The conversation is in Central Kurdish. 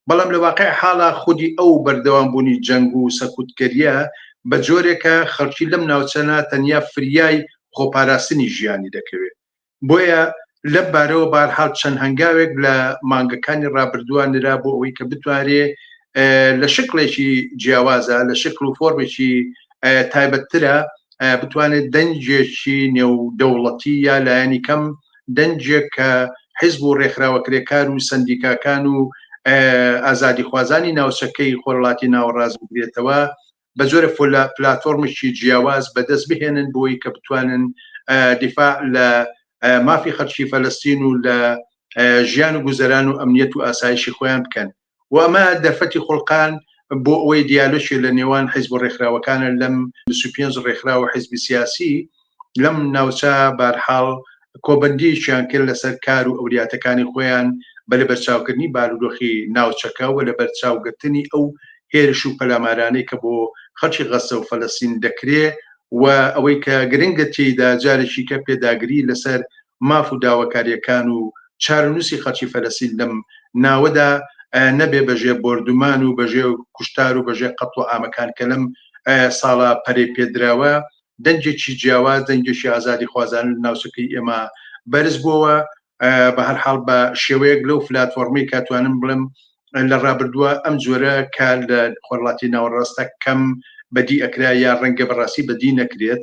بەڵام لە واقعی حاڵا خودی ئەو بەردەوام بوونی جەنگ و سەکوتگەریە بە جۆرێکە خەڵکی لەم ناوچانە تەنیا فریای خۆپاراستنی ژیانی دەکەوێت بۆیە لەم بارەوە بارحاڵ چەند هەنگاوێک لە مانگەکانی ڕابردووە نرا بۆ ئەوەی کە بتوارێ لە شکڵێکی جیاوازە لە شکل و فۆرمێکی تایبەتترە بتوانێت دەنجێکی نێو دەوڵەتی یا لایەنی کەم دەنگێک کە حیزب و ڕێکخراوە کرێکار و سەندیکاکان و ئازادیخوازانی ناوچەکەی خۆرهەڵاتی ناوەڕاست بگرێتەوە، بە جۆرە پلاتۆڕمێکی جیاواز بەدەست بهێنن بۆی کە بتوانن دیفاع لە مافی خەڵکی فەلەستین و لە ژیان و گوزەران و ئەمنیەت و ئاسایشی خۆیان بکەن. و ئەمە دەرفەتی خوڵقاند بۆ ئەوەی دیالۆکی لە نێوان حیزب و ڕێکخراوەکانە لەم 25 ڕێکخراو و حیزبی سیاسی لەم ناوچە بارحاڵ کۆبەندیەکیان کرد لەسەر کار و ئەولیاتەکانی خۆیان بە لەبەرچاوکردنی بارودۆخی ناوچەکە و لەبەرچاوگرتنی ئەو هێرش و پەلامارانەی کە بۆ خەڵکی غەززە و فەلەستین دەکرێ و ئەوەی کە گرنگە تێیدا جارێکی کە پێداگری لەسەر ماف و داواکارییەکان و چارەنووسی خەڵکی فەلەستین لەم ناوەدا نەبێ بەژێ بۆردومان و بەژێ کوشتار و بەژێ قەتڵ و ئامەکان کە لەم ساڵە پەرەی پێدراوە دەنگێکی جیاواز دەنگێکی ئازادی خوازان ناوچەکەی ئێمە بەرز بووەوە بە هەر حاڵ بە شێوەیەک لەو فلاتفۆرمی کاتوانم بڵم لە ڕابردووە ئەم جۆرە کار لە خۆرڵاتی ناوەڕاستە کەم بەدی ئەکرا یا ڕەنگە بەڕاستی بەدی نەکرێت